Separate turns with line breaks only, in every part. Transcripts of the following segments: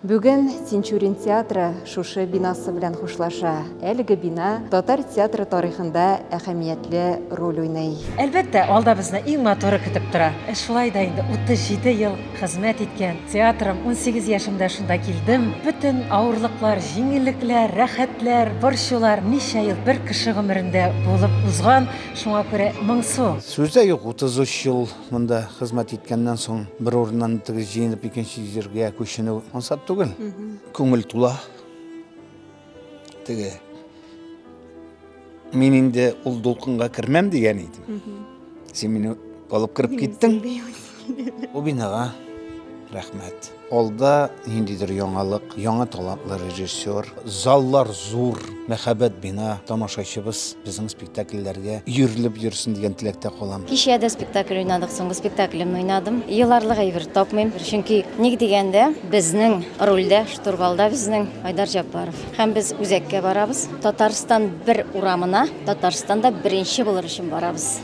Бүген Тинчурин театры шушы бинасы белән хушлаша. Әлеге бина татар театры тарихында әһәмиятле роль уйный. Әлбәттә, алда безне
иң матуры көтеп тора. Ә шулай да инде 37 ел хезмәт иткән театрым, унсигез яшемдә шунда килдем. Бөтен авырлыклар, җиңеллекләр, рәхәтләр, борчулар ничә ел бер кеше гомерендә булып узган, шуңа күрә моңсу. Сүз дә юк, 33
ел. Монда хезмәт иткәннән соң бер урыннан тегез җыенып икенче җиргә күченү ансат түгел. Күңел тула. Теге мин инде ул дулкынга кермәм дигән идем. Син мине алып кереп киттең. Бу бинага рәхмәт. Алда ниндидер яңалык, яңа талантлы режиссер, заллар зур, мәхәббәт бина, тамашачыбыз безнең спектакльләргә өерелеп йөрсен дигән теләктә калам. Кичә дә спектакль
уйнадык, соңгы спектаклемне уйнадым. Еларлык әйбер тапмыйм, чөнки ник дигәндә, безнең рольдә, штурвалда безнең Айдар Җәббаров. Һәм без үзәккә барабыз, Татарстан бер урамына, Татарстанда беренче булыр өчен барабыз.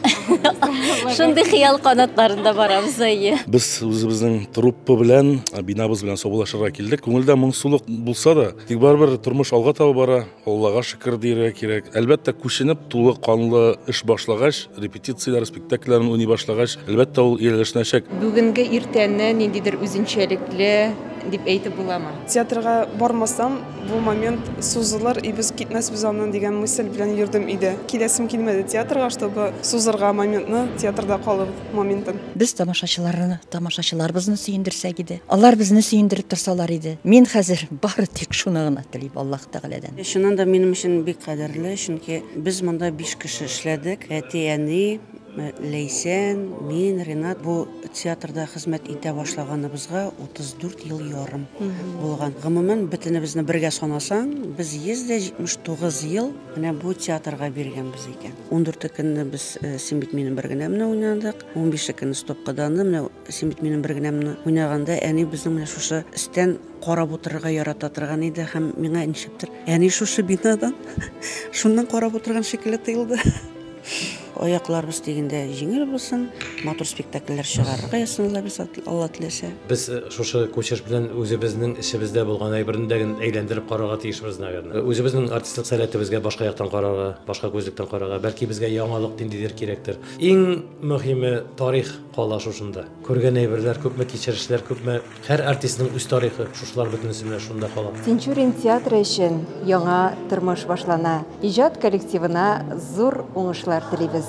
Шундый хыял канатларында барабыз әйе. Без
үзебезнең труппа белән, бинабыз белән саубуллашырга килдек. Күңелдә моңсулык булса да, тик барыбер тормыш алга таба бара. Аллага шөкер дияргә кирәк. Әлбәттә, күченеп тулы канлы эш башлагач, репетицияләр, спектакльләрен уйный башлагач, әлбәттә ул ияләшнәчәк. Бүгенге иртәне
ниндидер үзенчәлекле дип әйтеп буламы? Театрга бармасам,
Бу момент сузылыр, и без китмәсбез аннан дигән мысль белән йөрдем өйдә. Киләсем килмәде театрга, чтобы сузырга моментны, театрда калу моментын. Без тамашачыларны,
тамашачыларыбызны сөендерсәк иде. Алар безне сөендереп торсалар иде. Мин хәзер бары тик шуны гына телим Аллаһ Тәгаләдән. Чыннан да минем өчен
бик кадерле, чөнки без монда биш кеше эшләдек. Әти, әни, Ләйсән, мин, Ренат бу театрда хезмәт итә башлаганыбызга 34 ел ярым булган. Гомумән, бөтенебезне бергә санасаң, без 179 ел менә бу театрга биргәнбез икән. 14 көнне без, син бит минем бер генә менә уйнадык, 15 көнне стопкаданы, менә Син бит минем бер генә менә уйнаганда әни безнең менә шушы өстән карап утырырга ярата торган иде һәм миңа ничектер әни шушы бинадан шуннан карап утырган шикелле тоелды. Аякларыбыз дигәндә җиңел булсын, матур спектакльләр чыгарырга язсын Алла без Алла теләсә. Без шушы
күчеш белән үзебезнең эчебездә булган әйберне дә гел әйләндереп карарга тиешбез, наверное. Үзебезнең артистлык сәләтебезгә башка яктан карарга, башка күзлектән карарга, бәлки безгә яңалык ниндидер кирәктер. Иң мөһиме тарих. Кала шушында. Күргән әйберләр күпме, кичерешләр күпме. Һәр артистның үз тарихы, шушылар бөтенесе менә шунда кала. Тинчурин театры
өчен яңа тормыш башлана. Иҗат коллективына зур уңышлар телибез.